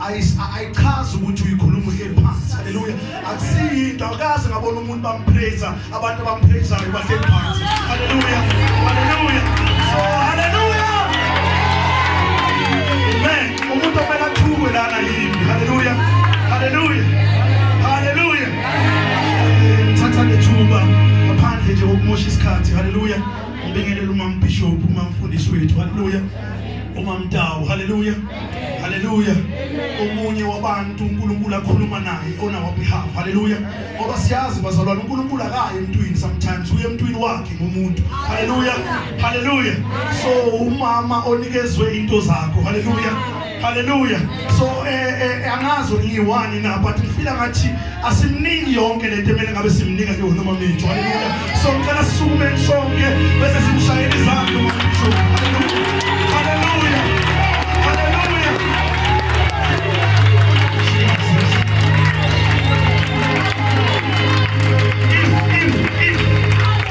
ayichazi ukuthi uyikhuluma uhle phansi haleluya akusiyinto akaze ngabona umuntu bampraise abantu abampraisayo bahle phansi haleluya haleluya so haleluya amen umuntu omela thukwe lana yini haleluya haleluya haleluya thatha lethuba ngaphandle nje kokumosha isikhathi haleluya Ngibingelela umam bishop, umam mfundisi wethu. Haleluya. Umam Tawu. Haleluya. Haleluya. Omunye wabantu uNkulunkulu akhuluma naye ona wa behalf. Haleluya. Ngoba siyazi bazalwane uNkulunkulu akaye emntwini sometimes uye emntwini wakhe ngomuntu. Haleluya. Haleluya. So umama onikezwe into zakho. Haleluya. Hallelujah. So eh, eh, eh angazi ngiwani na but ngifila ngathi asimniki yonke lento emele ngabe simnika ke wona mamithu. Hallelujah. So ngicela sisukume sonke bese simshayela izandla mamithu. Hallelujah. Hallelujah. Hallelujah. If, if, if,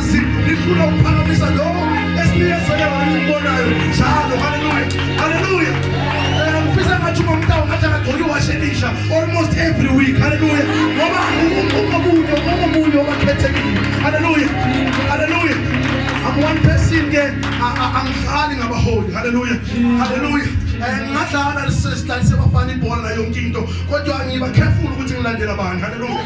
Ngifuna ukuphakamisa lowo esinikezele wona ukubonayo njalo. Haleluya. Haleluya. Eh, ngifisa ngathi uma umntawo ngathi akagcoka iwashe elisha almost every week. Haleluya. Ngoba ungomunye ungomunye obakhethekile. Haleluya. Haleluya. I'm one person ke angidlali ngabaholi. Haleluya. Haleluya. Eh, ngingadlala sister sebafana ibhola nayo yonke into kodwa ngiba careful ukuthi ngilandela bani. Haleluya.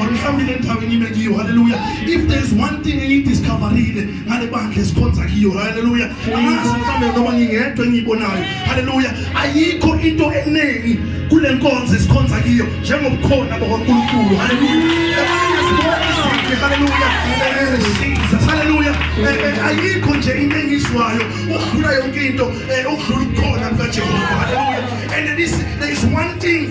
or nihambile endaweni ibe kiyo haleluya if there is one thing engiyidiscoverile ngale bandla esikhonza kiyo haleluya angazi mhlawumbe noma ngingedwa engiyibonayo haleluya ayikho into eningi kule nkonzo esikhonza kiyo njengobukhona bakankulunkulu haleluya haleluya haleluya ayikho nje into engizwayo ukudlula yonke into ukudlula ukukhona kukajehova haleluya and there is, there is one thing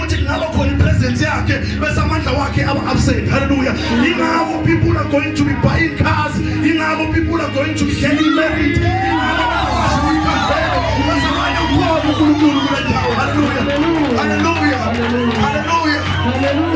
ukuthi kungaba khona ipresence yakhe bese amandla wakhe aba absent haleluya ingakho people are going to be buying cars ingakho people are going to be getting married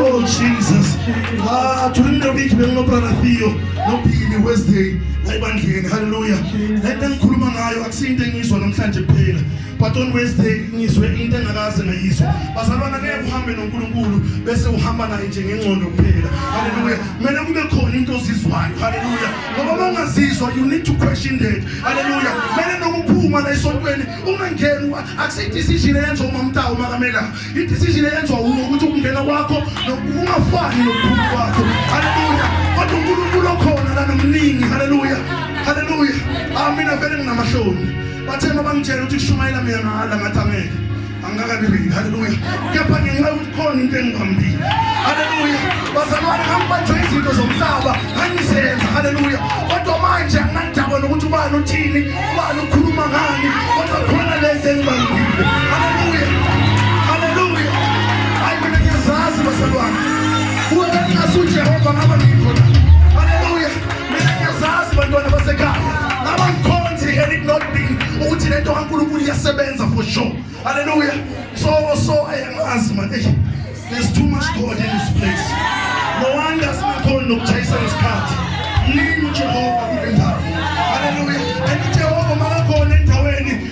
Oh Jesus. Ah, during the week benginobra Theo nophili Wednesday ayibandleni haleluya. Lento engikhuluma ngayo akusinto engizwa namhlanje kuphela. but on wednesday ngizwe into engakaze ngayizwa bazalwana ngeke uhambe nonkulunkulu bese uhamba naye nje ngengcondo kuphela haleluya kumele kube khona into ozizwayo haleluya ngoba uma ungazizwa you need to question that haleluya kumele nokuphuma la esontweni ungangeni akusidecision eyenziwa umamtawu makamela idecision eyenziwa wuwo ukuthi ukungena kwakho ungafani nokuphuma kwakho haleluya kodwa unkulunkulu okhona la nomningi haleluya haleluya amina vele nginamahloni Bathe uma bangitshela ukuthi kushumayela mina mahala ngathi angeke. Angikakabi real. Haleluya. Kepha ngenxa yokuthi khona into engibambile. Haleluya. Bazalwane ngangibanjwe izinto zomhlaba ngangizenza. Haleluya. Kodwa manje anginandaba nokuthi ubani uthini, ubani ukhuluma ngani, kodwa khona lento engibambile. Haleluya. Haleluya. Hayi mina ngiyazazi bazalwane. Kuwe ngingasuJehova ngaba ngikho la. mina ngiyazazi bantwana basekhaya ngaba ngikhonzi and it not be ukuthi le nto kankulunkulu iyasebenza for sure halleluya so so ayangazi man eyi there's too much god in this place no wonder singakhoni nokuchayisa isikhathi mningi ujehova kule ndawo halleluya and ujehova makakhona endaweni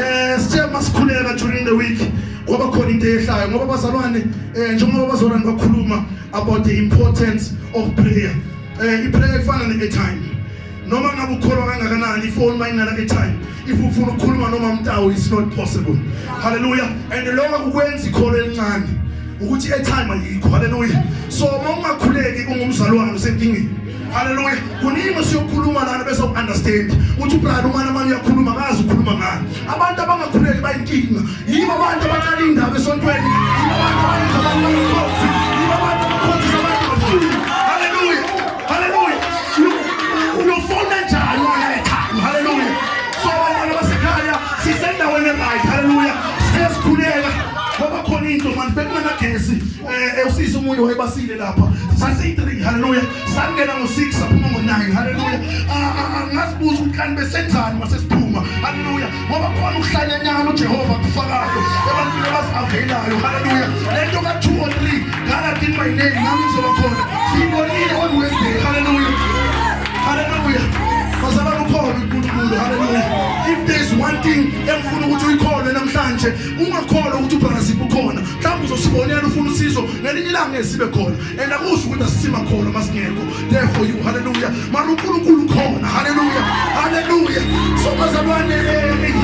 eh sithe masikhuleka during the week ngoba khona into eyehlayo ngoba bazalwane eh njengoba bazalwane bakhuluma about the importance of prayer eh iprayer ifana ne-airtime noma ngabe ukholwa kangakanani ifoni uma ingana airtime if ufuna ukukhuluma noma mtawu it's not possible hallelujah and lokho kukwenza ikholo elincane ukuthi airtime ayikho hallelujah so uma ungakhuleki ungumzalwane usenkingeni Hallelujah. Kuningi siyokhuluma lana bese uunderstand. Uthi brother umana manje uyakhuluma kazi ukhuluma ngani. Abantu abangakhuleki bayinkinga. Yibo abantu abaqala indaba esontweni. Yibo abantu abayenza abantu bangakhothi. Yibo abantu abakhothi abantu bafuni. Hallelujah. Hallelujah. Uyofona njani wena ekhaya? Hallelujah. So abantwana basekhaya sisendaweni right. Hallelujah. Sesikhuleka. Ngoba khona into manje bekungenagesi. eh usiza umunye wayebasile lapha sasi 3 haleluya sangena ngo 6 saphuma ngo 9 haleluya ngazibuza ukuthi kanti besenzani mase siphuma haleluya ngoba khona ukuhlanyanyana uJehova kufakayo ebantwini abasavelayo haleluya lento ka 2 or 3 ngala kini my name nami ngizoba khona sibonile on Wednesday haleluya haleluya bazaba ukhona uNkulunkulu haleluya if there's one thing engifuna ukuthi uyikholwe namhlanje ungakholwa ukuthi uBrother Sipho ukhona mhlawumbe uzosibonela ufuna usizo ngelinye ilanga ngeke sibe khona and akusho ukuthi asisima khona uma singekho there for you haleluya mara unkulunkulu ukhona haleluya haleluya so bazalwane eh,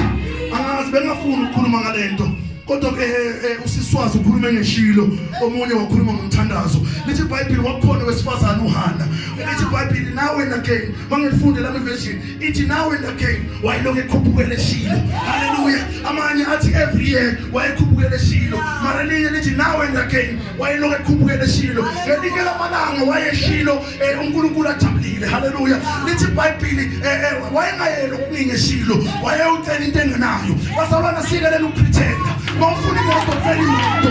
angazi bengafuni ukukhuluma ngale nto kodwa ke eh, eh, usiswazi ukhulume ngeshilo omunye wakhuluma ngomthandazo lithi ibhayibheli wakhona wesifazane uhana lithi ibhayibheli nawe again mangifundela iversion ithi now and again wayelokhu ekhuphukele shilo haleluya amanye athi every year wayekhuphukele shilo mara linye lithi now and again wayelokhu ekhuphukele shilo ngelinye lamalanga wayeshilo eh, unkulunkulu ajabulile haleluya lithi ibhayibhili eh, eh, wayengayeli okuningi eshilo wayewucela into engenayo bazalwana sikelela ukupretenda uma ufuna imoto cela imoto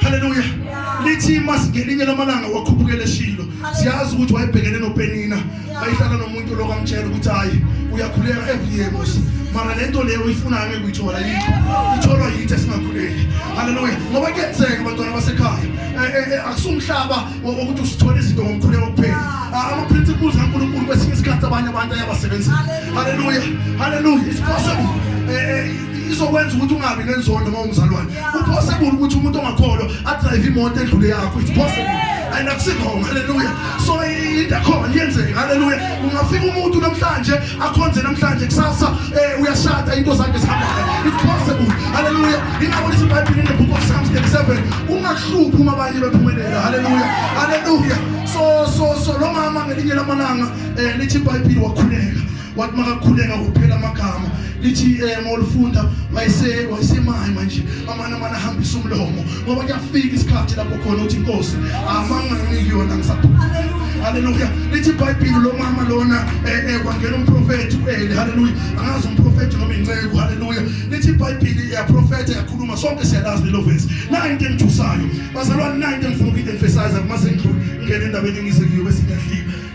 haleluya lithi masi ngelinye lamalanga wakhuphukela eshilo siyazi ukuthi wayebhekene nopenina wayehlala nomuntu lo kamtshela ukuthi hayi uyakhuleka every year mos mara le nto leyo uyifunayo ngeke uyithola yikho itholwa yithi esingakhuleki haleluya ngoba kuyenzeka abantwana basekhaya eh, eh, eh, akusumhlaba wokuthi usithole izinto ngomkhuleko kuphela ah, ama-principles kankulunkulu kwesinye isikhathi abanye abantu ayabasebenzela haleluya haleluya it's possible izokwenza ukuthi ungabi nenzondo uma umzalwane upossible ukuthi umuntu ongakholwa adrive imoto edlule yakho it's possible and akusikhona haleluya so into ekhona yenzeke haleluya ungafika umuntu namhlanje akhonze namhlanje kusasa eh, uyashada into zakhe zihambayo it's possible haleluya ingakho lithi ibhayibheli in the book of psalms 37 ungahluphi uma abanye bephumelela haleluya haleluya so so so lo mama ngelinye lamalanga eh, lithi ibhayibheli wakhuleka wathi makakhuleka kuphela amagama lithi eh, uma ulifunda wayese wayesemayi manje amane amane ahambisa umlomo ngoba kuyafika isikhathi lapho khona uthi inkosi amanga nginiki yona ngisaphuma haleluya lithi ibhayibhili lo mama lona eh, eh, kwangena umprofethi u-eli haleluya angazi umprofethi noma inceku haleluya lithi ibhayibhili iyaprofetha yakhuluma sonke siyalazi lelo vesi nayo into engithusayo bazalwane nayo into engifuna ukuyidemfesiza uma sengidlule ngingena endabeni engize kuyo bese ngiyadlika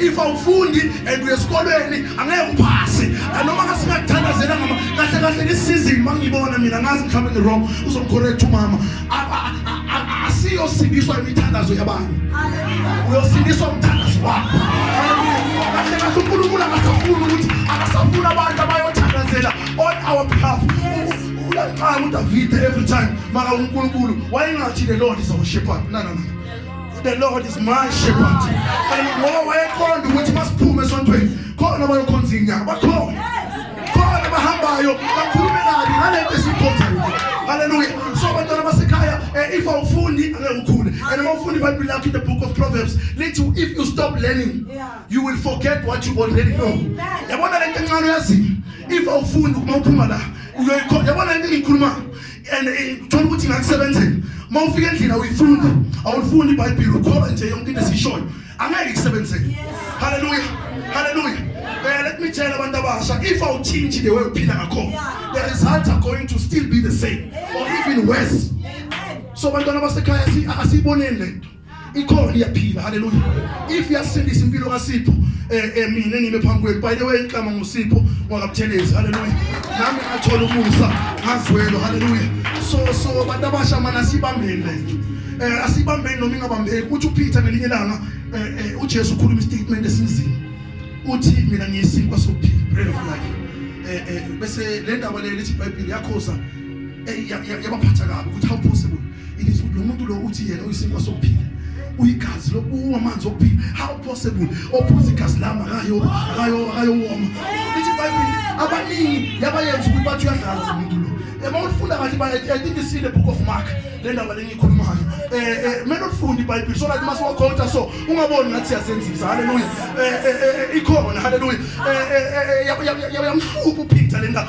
if awufundi and uye esikolweni angeke uphase noma kasingathandazela ngama kahle kahle ngesizini uma ngibona mina ngazi mhlawumbe ngi-wrong uzomcorrect umama asiyosindiswa imithandazo yabantu uyosindiswa umthandazo wakho kahle kahle unkulunkulu akasafuni ukuthi akasafuni abantu abayothandazela on our behalf uyaxaka udavide every time maka unkulunkulu wayengathi le lord is our shepherd nanana The Lord is my shepherd. Hallelujah. Wayeqonda ukuthi masiphume esontweni khona bayokhonza inyanga. Bakhona. Khona bahambayo bakhulume kabi ngalento esikhonzayo. Hallelujah. So bantwana basekhaya eh, if awufundi angeke ukhule. And uma ufundi iBhayibheli lakho in the book of Proverbs lithi if you stop learning you will forget what you already know. Yabona lento encane uyazi. If awufundi uma uphuma la uyoyikhona. Yabona lento engiyikhulumayo. and eh, thola ukuthi ngakusebenzela uma ufika endlini awuyifundi awulifundi ibhayibhile ukholwa nje yonke into esiyishoyo angeke ikusebenzele haleluya haleluya eh, let me tell abantu abasha if awuthinthi the way uphila ngakhona the results are going to still be the same or even worse so bantwana basekhaya asiyiboneni lento ikhona iyaphila haleluya if yasindisa impilo kaSipho eh, eh mina ngime phambi kwenu by the way inhlama ngusipho ngwakabuthelezi haleluya nami ngathola umusa ngazwelo haleluya so so abantu abasha mana sibambeni lethu eh asibambeni noma ingabambeki uthi uPeter ngelinye langa eh, eh uJesu ukhuluma istatement esinzima uthi mina ngiyisinkwa sokuphila bread of life eh eh bese le ndaba le lithi iBhayibheli yakhoza yabaphatha kabi ukuthi how possible it is lo muntu lo uthi yena uyisinkwa sokuphila uyigazi lokuwa amanzi okuphila how possible ophuza igazi lami akayo akayo akayowoma lithi ibhayibheli abaningi yabayenza ukuthi bathi uyadlala lo muntu lo uma ulifunda kahle ibhayibheli i think it's in the book of mark le ndaba lengiyikhulumayo um eh, eh, kumele ulifunde ibhayibheli so right uma siwakhotha so ungaboni ngathi siyazenzisa halleluya um eh, ikhona halleluya yamhlupha uphitha le ndaba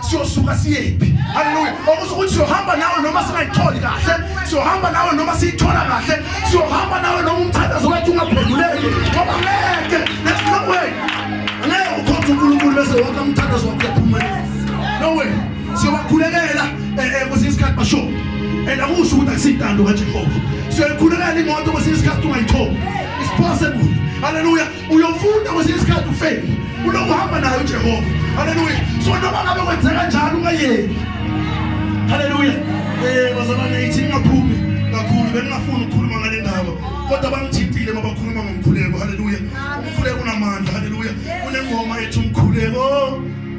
siyosuka siyephi haleluya okusho ukuthi siyohamba nawe noma singayitholi kahle siyohamba nawe noma siyithola kahle siyohamba nawe noma umthandazo wethu ungaphenduleki ngoba ngeke there's no way ngeke ukhonze unkulunkulu bese wonke umthandazo wakho uyaphumela no way siyobakhulekela eh, eh, kwesinye isikhathi basho and akusho ukuthi akusiyintando kajehova siyoyikhulekela imoto kwesinye isikhathi ungayitholi it's possible haleluya uyofunda kwesinye isikhathi ufeli unokuhamba naye ujehova haleluya so noma ngabe kwenzeka njalo ungayeki haleluya um eh, bazalwane ithi ningaphumi kakhulu bengingafuni ukukhuluma ngale ndaba kodwa bangithintile uma bakhuluma ngomkhuleko haleluya umkhuleko unamandla haleluya kunengoma ethi umkhuleko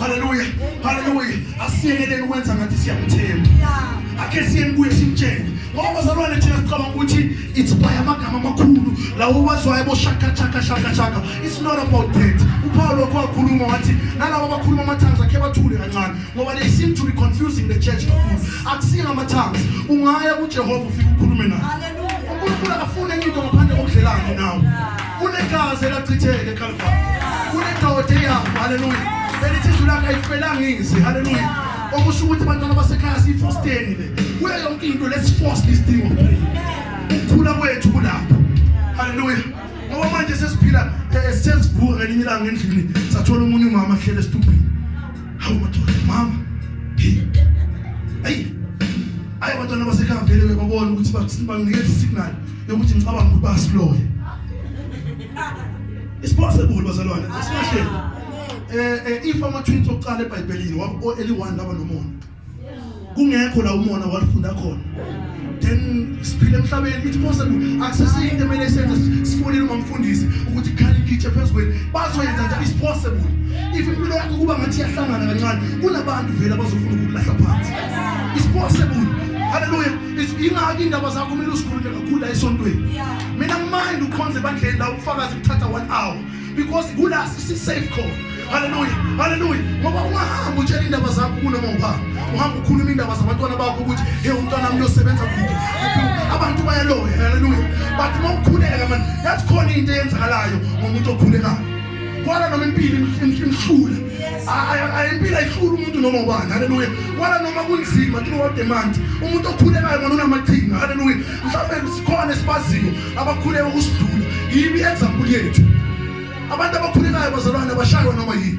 Haleluya. Haleluya. Asiyekeleni ukwenza ngathi siyamthemba. Ake siyeni kuye simtshele. Ngoba bazalwane thina sicabanga ukuthi it's by amagama amakhulu lawo wazwayo bo shaka shaka shaka shaka. It's not about that. UPaul lokho wakhuluma wathi nalabo abakhuluma amathanga akhe bathule kancane ngoba they seem to be confusing the church kakhulu. Akusinga amathanga. Ungaya kuJehova ufike ukhulume naye. Haleluya. UNkulunkulu akafuni enye into ngaphandle kokudlelana nawe. Kunegazi elachitheka eKalvari. Kunendoda eyafa, haleluya. Elithi izwi lakhe ayifelanga izi, haleluya. Okusho ukuthi abantwana basekhaya siyifosteni le. Kuyo yonke into let's force this thing of prayer. Ukukhula kwethu kulapho. Haleluya. Ngoba manje sesiphila eh, sesivuka ngelinye ilanga endlini sathola umunye umama ahlele esitubhini. Hawu madoda, mama. Hey. Hey. Ayi abantwana basekhaya vele babona ukuthi bakusinikeza isignal. yokuthi ngicabanga ukuthi basiloye It's possible bazalwane asikahle eh, eh if ama twins oqala eBhayibhelini wabo eliwani laba nomona kungekho la umona walifunda khona then siphile emhlabeni it's possible akusesiyinto emele senze sifonele umfundisi ukuthi khali ngitshe phezukweni bazoyenza nje it's possible if impilo yakho kuba ngathi yahlangana kancane kunabantu vele abazofuna ukulahla phansi it's possible haleluya ingaki indaba zakho kumele uzikhulume kakhulu la esontweni mina ngimayindi ukhonze ebandleni la ubufakazi kuthatha one hour because kula sisi-safe khona haleluya haleluya ngoba ungahamba utshela indaba zakho kunoma ubani uhamba ukhuluma indaba zabantwana bakho ukuthi he umntwana mi uyosebenza kude abantu bayaloya haleluya but uma ukhuleka mani yathi khona into eyenzakalayo ngomuntu okhulekayo kwala noma impilo imhlula impilo ayihlula umuntu noma ubani haleluya kwala noma kunzima throughout the month umuntu okhulekayo ngona unamaqhinga haleluya mhlawumbe sikhona esibaziyo abakhuleka ukusidlula yibi example yethu abantu abakhulekayo bazalwane abashaywa noma yini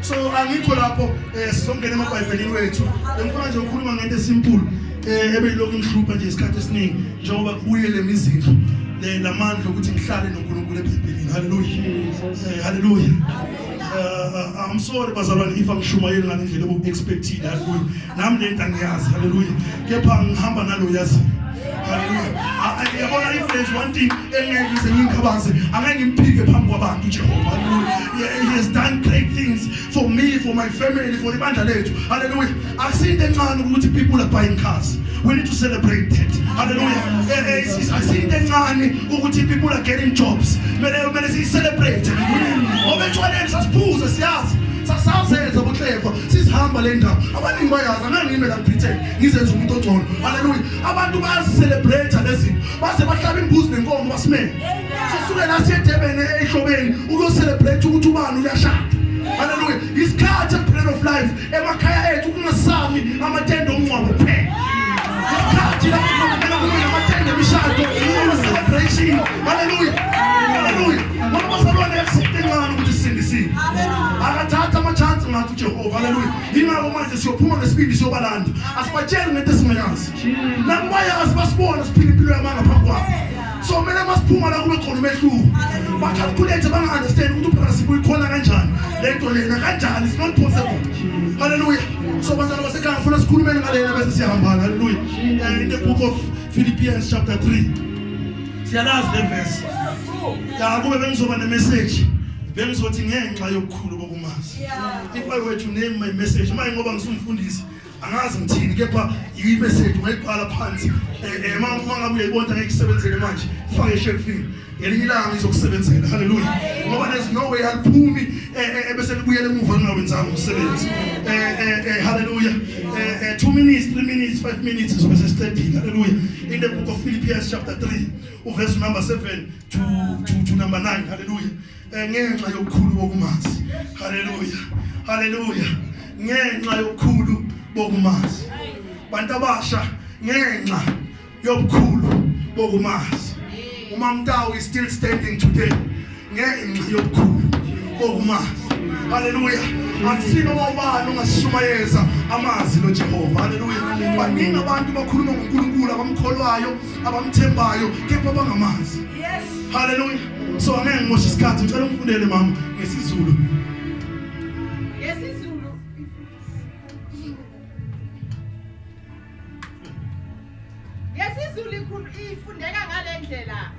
so angikho lapho um eh, sizongena emabhayibhelini wethu engifuna nje ukhuluma ngento esimpulu um eh, ebeyilokhu ingihlupha nje isikhathi esiningi njengoba kubuyele mizindlu eh, lamandla okuthi ngihlale nonkulunkulu ebhayibhelini halleluya um halleluya uh, I'm sorry bazalwane if angishumayeli ngale ndlela obu-expectile halleluya nami le nto angiyazi halleluya kepha ngihamba nalo yazi haleluya yabona ifenzi one thing engeke ngize ngingikhabaze angeke ngimphike phambi kwabantu jehova haleluya he has done great things for me for my family for ibandla lethu haleluya akusiyinto encane ukuthi people are buying cars we need to celebrate that haleluya eh, eh, eh, akusiyinto encane ukuthi people are getting jobs kumele kumele siyicelebrate ngoba etshwaleni sasiphuze siyazi sasazenza buhleva sihamba le ndawo abaningi bayazi anangime la Britain ngizenza umuntu ogcono haleluya abantu bayazicelebrate lezinto baze bahlaba imbuzi nenkomo basimele sisuke la siyedebene ehlobeni ukuyocelebrate ukuthi ubani uyashada haleluya isikhathi empilweni of life emakhaya ethu kungasami amatende omngcwabo kuphela isikhathi lapho kunomela kuyo amatende emishado celebration haleluya haleluya siyophuma ngesibindi siyobalanda asibatsheli ngento esingayazi nakubayazi basibona siphila impilo yamanga phambi kwabo so kumele masiphuma la kube khona umehluko bacalculate banga-understand ukuthi uphasi buyikhona kanjani le nto lena kanjani it's not possible halleluya so bazalwa basekhaya ngifuna sikhulumeni ngalena bese siyahambana halleluya eh, in the book of philippians chapter 3 siyalazi levesi ya kube bengizoba nemessage bengizothi ngenxa yokukhulu kokumazi if i were to name my message manje ngoba ngisumfundisi angazi ngithini kepha yi message ungayibhala phansi eh, eh, uma uma ngabe uyayibona ngeke isebenzele manje fake eshelfini ngelinye ilanga izokusebenzela haleluya ngoba there's no way aliphumi eh, eh, ebese libuyela emuva lingawenzanga umsebenzi eh, haleluya two minutes three minutes five minutes sobe sesiqedile haleluya in the book of philippians chapter 3 uverse number 7 to, to, to number 9 haleluya ngenxa yokukhulu bokumazi haleluya haleluya ngenxa yokukhulu bokumazi bantu abasha ngenxa yobukhulu bokumazi umamtawu is still standing today ngenxa yobukhulu bokumazi haleluya akusini uma ubani ungasishumayeza amazi lojehova haleluya baningi abantu bakhuluma ngonkulunkulu abamkholwayo abamthembayo kepha bangamazi haleluya so angeke ngimoshe isikhathi ngicela ungifundele mama ngesizulu yesizulu ifundeka ngale ndlela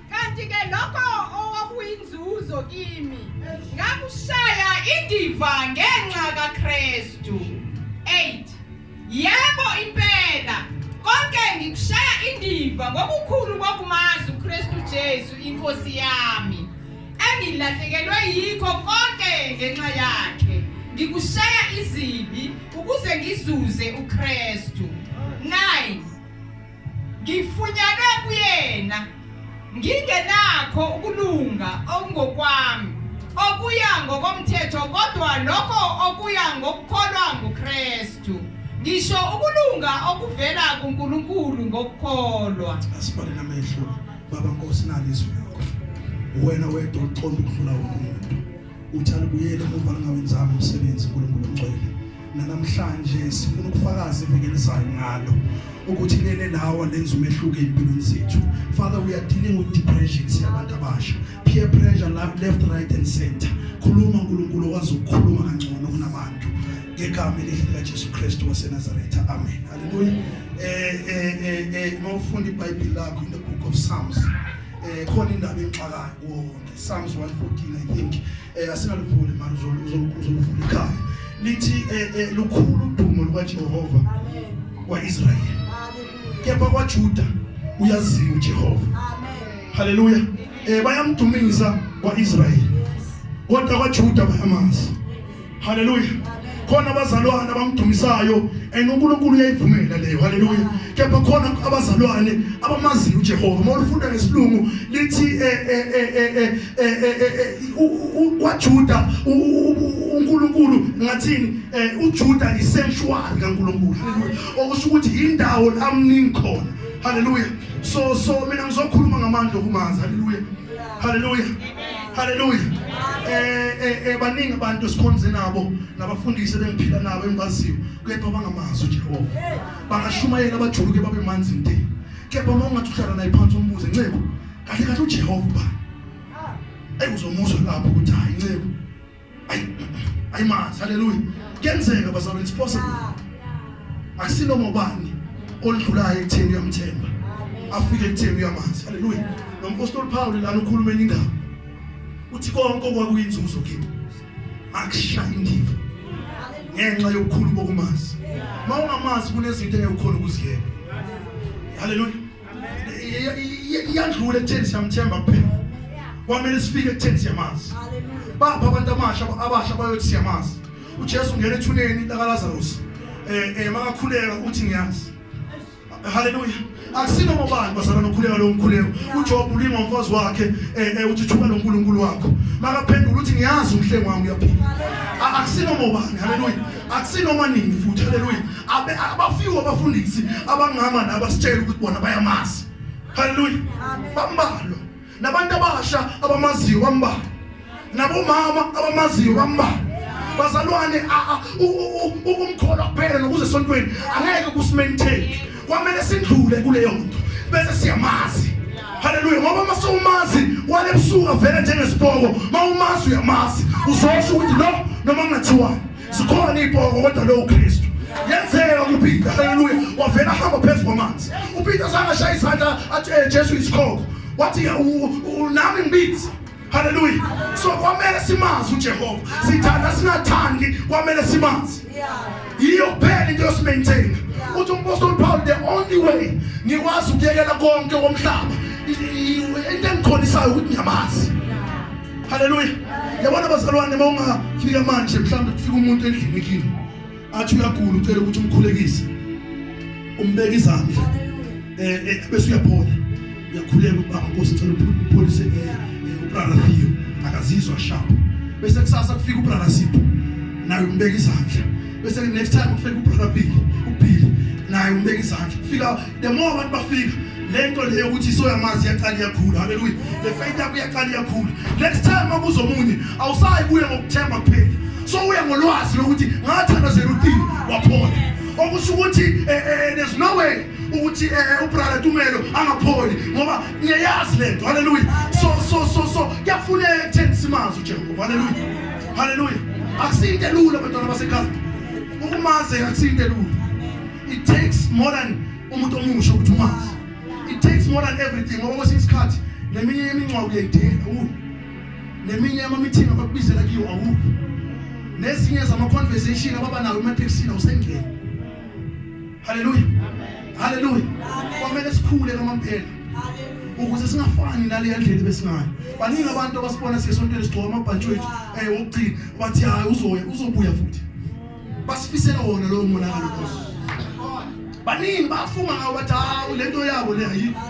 kanti-ke lokho owakuyinzuzo kimi ngakushaya indiva ngenxa kakristu 8 yebo impela konke ngikushaya indiva ngokukhulu kokumazi ukristu jesu inkosi yami engilahlekelwe yikho konke ngenxa yakhe ngikushaya izibi ukuze ngizuze uKristu 9 ngifunyanwe kuyena ngingenakho ukulunga okungokwami okuya ngokomthetho kodwa lokho okuya ngokukholwa nguKristu ngisho ukulunga okuvela kuNkulunkulu ngokukholwa asibale namehlo baba nkosi nalizwi lakho wena wedwa uqonda ukudlula wonke umuntu Uthi alibuyele emuva lingawenzanga umsebenzi uNkulunkulu ongcwele. Nanamhlanje sifuna ukufakaza iviki elizayo ngalo ukuthi lele lawa lenza umehluko empilweni zethu. Father we are dealing with depression siyabantu abasha. Peer pressure left right and center. Khuluma uNkulunkulu okwazi ukukhuluma kangcono kunabantu. ngegama elihle likaJesu Kristu waseNazaretha amen haleluya eh eh eh, eh mawufunda iBhayibheli lakho in the book of Psalms eh khona indaba enxakayo Psalms 114 I think eh asingalivuli manje uzolukuzoluvula ikhaya lithi eh, eh, lukhulu udumo lukaJehova amen kwaIsrael amen kepha kwaJuda uyaziwa uJehova amen haleluya eh bayamdumisa kwaIsrael kodwa kwaJuda bayamazi Haleluya. Khona abazalwane abamdumisayo and uNkulunkulu uyayivumela leyo. Haleluya. Kepha khona abazalwane abamaziyo uJehova. Uma ulifunda ngesilungu lithi kwaJuda uNkulunkulu ngathini uJuda i sanctuary kaNkulunkulu. Okusho ukuthi indawo la mningi khona. Haleluya. So so mina ngizokhuluma ngamandla okumanzi. Haleluya. Haleluya. Amen. Hallelujah. Eh eh, eh baningi abantu esikhonze nabo nabafundisi bengiphila nabo engibaziyo kepha bangamazi uJehova. Bangashumayela abajuluke babe manzi nte. Kepha uma ungathi uhlala naye phansi umbuze ncebo kahle kahle uJehova ba. Ayuzomuzwa lapho ukuthi hayi ncebo ayi ayi mazi haleluya kuyenzeka bazalwane it's possible asinoma ubani olidlulayo ekutheni uyamthemba afike ekutheni uyamazi haleluya nompostoli Paul lana ukhuluma enye indaba uthi konke okwakuyinzuzo kimi akushaya indiva ngenxa yokukhulu bokumazi uma ungamazi kunezinto engekukhona ukuziyeka haleluya iyadlula ekutheni siyamthemba kuphela kwamele sifike ekutheni siyamazi bapha abantu amasha abasha bayothi siyamazi ujesu ungena ethuneni lakalazarusi um eh, eh, makakhuleka uthi ngiyazi haleluya akusino mobani bazalwa nokhuleka lowo mkhuleko ujob ulinga umfazi wakhe um uthi thuba nonkulunkulu wakho makaphendula uthi ngiyazi umhlengi wami uyaphila akusino mobani haleluya akusinoma nini futhi haleluya abe abafiwe abafundisi abangama nabasitshela ukuthi bona bayamazi haleluya bambalwa nabantu abasha abamaziyo bambalwa nabomama abamaziyo bambalwa bazalwane umkholwa kuphela nokuze esontweni angeke kusimaintain kwamele sidlule kuleyo muntu bese siyamazi haleluya ngoba uma sewumazi wale busuka vele njengesipoko uma umazi uyamazi uzosho ukuthi lo noma kungathiwani sikhona iy'poko kodwa lowo kristu yenzeka kupeter haleluya wavela ahamba phezu kwamanzi upeter sangashaya izandla athi eh, jesu yisikhoko wathi nami ngibizi Hallelujah. So kwamele simazi uJehova. Sithanda singathandi kwamele simazi. Yiyo kuphela into yosimaintain. Uthi umpostoli Paul the only way ngikwazi ukuyekela konke komhlaba. Into engikholisayo ukuthi ngiyamazi. Hallelujah. Yabona bazalwane uma ungafika manje mhlawumbe kufika umuntu endlini kini. athi uyagula ucela ukuthi umkhulekise umbeke izandla eh, eh bese uyaphola uyakhuleka ubaba Nkosi cela upholise eh, eh, ubrother Theo akazizwa sharp bese kusasa kufika ubrother Sipho naye umbeke izandla bese next time kufika ubrother Billy uBilly naye umbeke izandla kufika the more abantu bafika lento leyo ukuthi isoyamazi iyaqala iyakhula haleluya le faith yakho iyaqala iyakhula next time makuza omunye awusayi kuye ngokuthemba kuphela so uye ngolwazi lokuthi ngathandazela uthini waphola okusho ukuthi eh, eh, eh, there's no way ukuthi ubrother Tumelo angapholi ngoba ngiyayazi lento haleluya so so so so kuyafuneka ekutheni simazi uJehova haleluya haleluya akusiyinto elula abantwana basekhaya ukumazi akusiyinto elula it takes more than umuntu omusha ukuthi umazi it takes more than everything ngoba kwesinye isikhathi neminye yemincwa uyayidela u neminye yamamithingi abakubizela kiyo awu nezinye zama-conversation ababa nayo ematekisini awusengeni haleluya haleluya kwamele sikhule kamampela ukuze singafani naleya ndlela besingayo baningi abantu abasibona siyesontweni sigcoka amabhantshi wethu um eh, wokugcina bathi hhayi uzoya uzobuya futhi basifisela wona lowo monakalo nkosi baningi bafunga ngawo bathi hawu le nto yabo le ayikho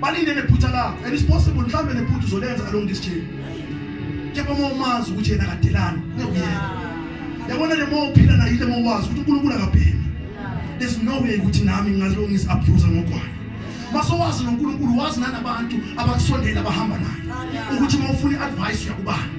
balinde nephutha lakho and it's possible mhlawumbe nephutha uzolenza along this journey kepha uma umazi ukuthi yena kadelani uyakuyeka yabona le uma uphila nayo ile uma uwazi ukuthi unkulunkulu akapheli there's no way ukuthi nami ngingaziloko ngisi-abusa ngokwayo masowazi nonkulunkulu wazi nanabantu abakusondela abahamba naye ukuthi uma ufuna i-advice uyakubani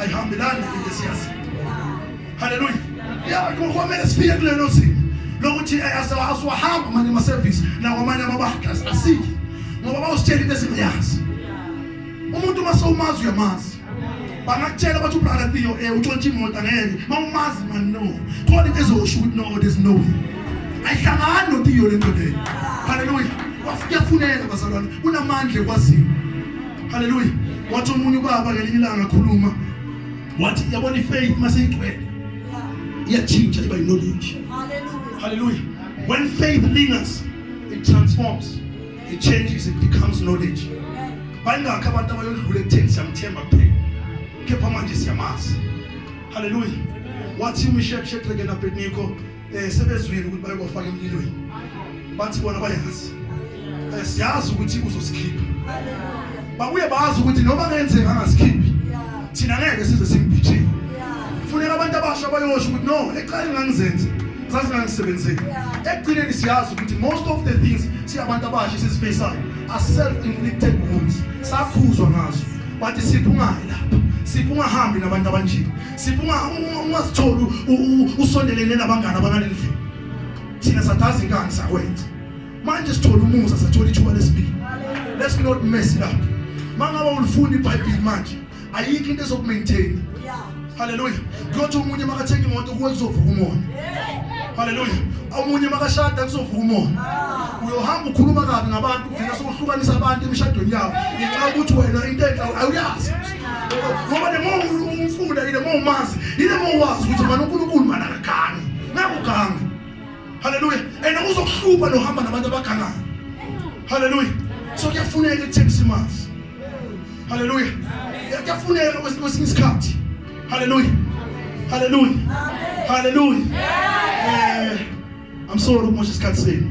ayihambelani into esiyazi haleluya ya kumele sifike kulelo zinga lokuthi eh, asiwahamba manje amasevisi nakwamanye amabahlas asiki ngoba bawusitshela into esingayazi umuntu uma sewumazi uyamazi bangakutshela bathi ubrother Theo eh utshontshe imoto ngeke mawumazi man no khona into ezosho ukuthi no there's no way ayihlangani noTheo le ndoda haleluya wafuyafunela bazalwane unamandla ekwaziyo Haleluya. Wathi omunye ubaba ngelinye ilanga akhuluma wathi yabona ifaith mase igcwele iyatshintsha iba knowledge. Haleluya. Haleluya. When faith lingers it transforms. It changes it becomes knowledge. Bayingakho abantu abayodlula ekutheni siyamthemba kuphela. Kepha manje siyamazi. Haleluya. Wathi uMishek Shedrek naBednego eh sebezwile ukuthi bayobafaka emlilweni bathi bona bayazi eh siyazi ukuthi uzosikhipha babuye bazi ukuthi noma kenzeka angasikhiphi thina ngeke size simbithile kufuneka abantu abasha bayosho ukuthi no eqali ngangizenze zazingangisebenzeli ekugcineni siyazi ukuthi most of the things siyabantu abasha esizifaceayo are self inflicted wounds sakhuzwa ngazo but siphungayi lapha siphungahambi nabantu abanjini sipho ungazitholi usondelene nabangani abangaleli vini thina sathazi inkani sakwenza manje sithola umusa sathola ithuba lesibili let's not mess it up mangabe ulifunda ibhayibhili manje ayikho into ezokumaintaina haleluya kuyothi omunye makathenga imoto kuwe kuzovuka umoya haleluya omunye makashada kuzovuka umoya ah. uyohamba ukhuluma kabi ngabantu ugcina sokuhlukanisa abantu emishadweni yabo ngenxa yokuthi wena into enhle awuyazi ngoba noma umfunda yile uma umazi yile uma uwazi ukuthi mani unkulunkulu mani akagangi nakugangi haleluya and uzokuhlupha nohamba nabantu abagangayo haleluya so kuyafuneka ekutheni simazi haleluya kuyafuneka kwesinye isikhathi haleluya haleluya haleluya eh i'm sorry ukumosha isikhathi senu